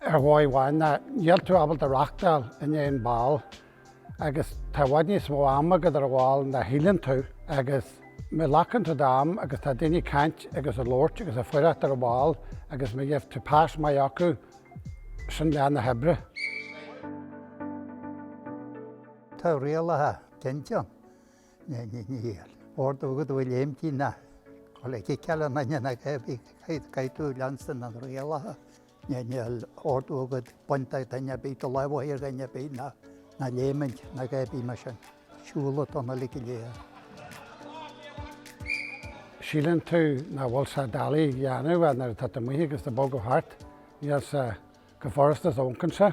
ar dhóigh amháin, ná níl tú ábalta reáchtáil i ndiaidh an bhál agus tá i bhfad níos mó ama agat ar an bhál ná shíleann tú agus má ghlacann tú d'am agus tá daoine ag caint agus ag labhairt agus ag fuireacht ar an bhál agus má gheibh tú pas maith acu, sin leath na hoibre. Tá rialacha cinnte ann. Níl ordú agat a bheith ag léimtí ná. Tá le ciceáil ná ná ná caithfidh tú leanstan na rialacha. Níl ordú agat baint do dhuine ar bith, do lámh a chur ar dhuine ar bith ná ná léimint ná a dhath ar bith mar sin. Siúl atá ann uilig go léir. Síleann tú nach bhfuil sé doiligh a dhéanamh ach nuair atá tú amuigh agus tú ag bogadh thart, níl sé chomh furasta is a amharcann sé.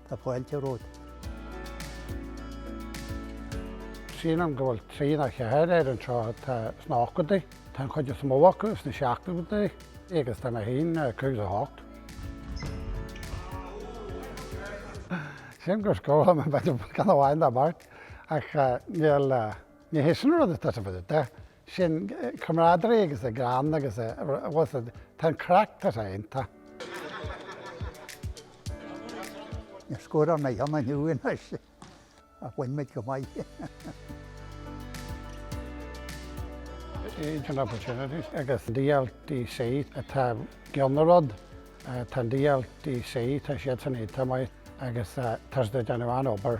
Tá fáilte romhat. Sílim go bhfuil triúr nó ceathrar anseo atá sna hochtóidí. Tá an chuid is mó acu sna seachtóidí agus tá mé féin 58. Sílim gur scóráil mé b'fhéidir ceann amháin nó beirt ach níl, ní hé sin an rud atá sa mhuineál de. sin camaraderie agus an greann agus a bhfo-. tá an craic tá sé iontach. Níor scóráil mé aon cheann inniu anois ach bhain muid go maith. Age and Opportunities agus DLDC atá i gcionn an rud. Tá an DLDC tá siadsan iontach maith agus tá siad ag déanamh an-obair.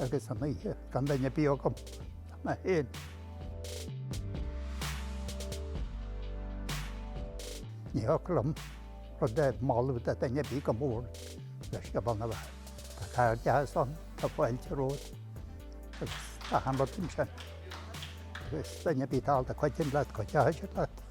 agus an oíche gan duine ar bith agam mé féin. Ní thiocfadh liom rud a mholadh do duine ar bith go mór le Scioból na bhFear. Tá cairdeas ann, tá fáilte romhat agus tá achan rud ansin. Agus duine ar bith ábalta cuidiú leat, cuideoidh siad leat.